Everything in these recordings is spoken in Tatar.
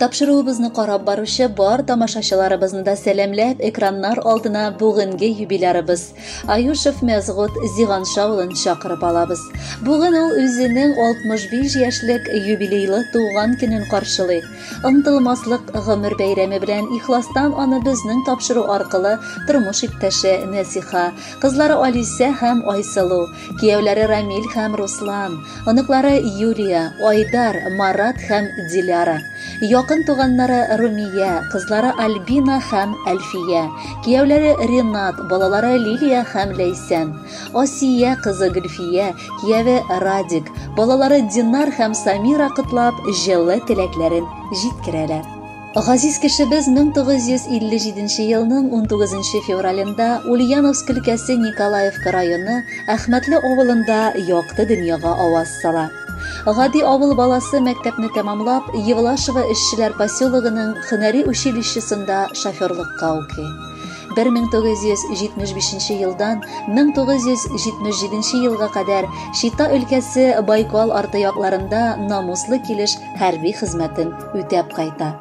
Тапшыруыбызны карап баручы бар тамашачыларыбызны да сәламләп, экраннар алдына бүгенге юбилярыбыз Аюшев Мәзгут Зиганша улын чакырып алабыз. Бүген ул үзенең 65 яшьлек юбилейлы туган көнен каршылый. Ынтылмаслык гомер бәйрәме белән ихластан аны безнең тапшыру аркылы тормыш иптәше Нәсиха, кызлары Алисә һәм Айсылу, Кияүләре Рамил һәм Руслан, оныклары Юлия, Айдар, Марат һәм Диляра. Якын туганнары Румия, кызлары Альбина һәм Әлфия. Кияүләре Ренат, балалары Лилия һәм Ләйсән. Асия кызы Гөлфия, кияве Радик, балалары Динар һәм Самира котлап, җылы теләкләрен җиткерәләр. Газиз кешебез 1957 елның 19 февралендә Ульяновск өлкәсе Николаевка районы Әхмәтле авылында якты дөньяга аваз сала. Гади авыл баласы мәктәпне тәмамлап, Евлашево эшчеләр поселогының хөнәри училищесында шоферлыкка укый. 1975 елдан 1977 елга кадәр Чита өлкәсе Байкал арты якларында намуслы килеш хәрби хезмәтен үтәп кайта.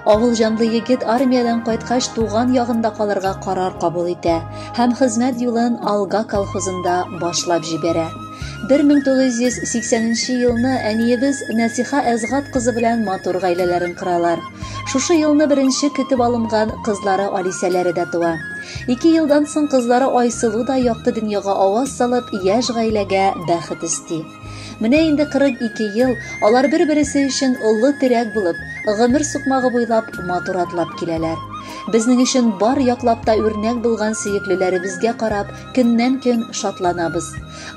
Авыл җанлы егет армиядән кайткач туган ягында калырга карар кабул итә һәм хезмәт юлын Алга колхозында башлап җибәрә. 1980 елны әниебез Нәсиха Әзгат кызы белән матур гаиләләрен кыралар. Шушы елны беренче көтеп алынган кызлары Алисәләре дә туа. Ике елдан соң кызлары Айсылу да якты дөньяга аваз салып, яшь гаиләгә бәхет өсти. Менә инде 42 ел алар бер-бересе өчен олы терәк булып, гомер сукмагы буйлап матур атлап киләләр. Безнең өчен бар яклап та үрнәк булган сөеклеләребезгә карап, көннән-көн шатланабыз.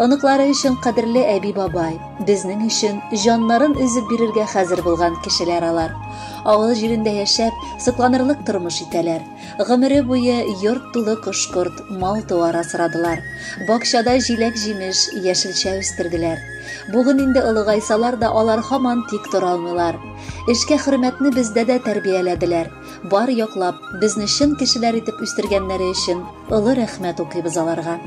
Оныклары өчен кадерле әби-бабай, безнең өчен җаннарын өзеп бирергә хәзер булган кешеләр алар. Авыл җирендә яшәп, сокланырлык тормыш итәләр. Гомере буе йорт тулы кош-корт, мал-туар асрадылар. Бакчада җиләк-җимеш, яшелчә үстерделәр. Бүген инде олыгайсалар да алар һаман тик тора алмыйлар. Эшкә хөрмәтне бездә дә тәрбияләделәр. Бар яклап, безне чын кешеләр итеп үстергәннәре өчен олы рәхмәт укыйбыз аларга.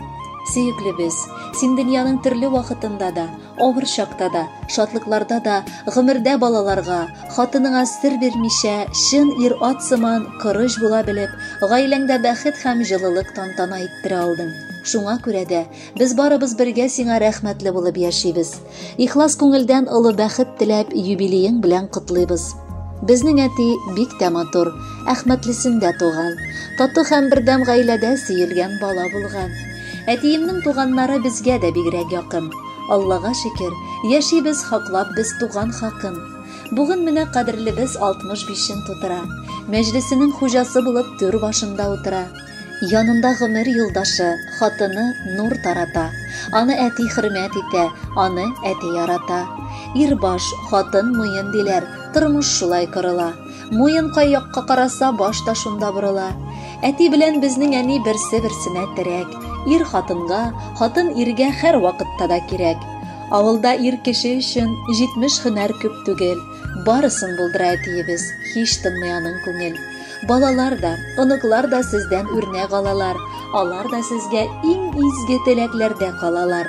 Сөеклебез, син дөньяның төрле вакытында да, Авыр чакта да, шатлыкларда да гомердә балаларга, хатыныңа сер бирмичә, чын ир-ат сыман корыч була белеп, гаиләңдә бәхет һәм җылылык тантана иттерә алдың. Шуңа күрә дә без барыбыз бергә сиңа рәхмәтле булып яшибез. Ихлас күңелдән олы бәхет теләп юбилеең белән котлыйбыз. Безнең әти бик тә матур, Әхмәтлесендә туган, тату һәм бердәм гаиләдә сөелгән бала булган. Әтиемнең туганнары безгә дә бигрәк якын. Аллага шөкер, яшибез хаклап без туган хакын. Бүген менә кадерлебез 65-ен тутыра. Мәҗлесенең хуҗасы булып түр башында утыра. Янында гомер юлдашы, хатыны нур тарата. Аны әти хөрмәт итә, аны әти ярата. Ир баш, хатын муен диләр, тормыш шулай корыла. Муен кай якка караса, баш та шунда борыла. Әти белән безнең әни берсе-берсенә терәк. Ир хатынга, хатын иргә һәр вакытта да кирәк. Авылда ир кеше өчен 70 һөнәр күп түгел. Барысын булдыра әтиебез, һич тынмый аның күңел. Балалар да, оныклар да сездән үрнәк алалар. Алар да сезгә иң изге теләкләрдә калалар.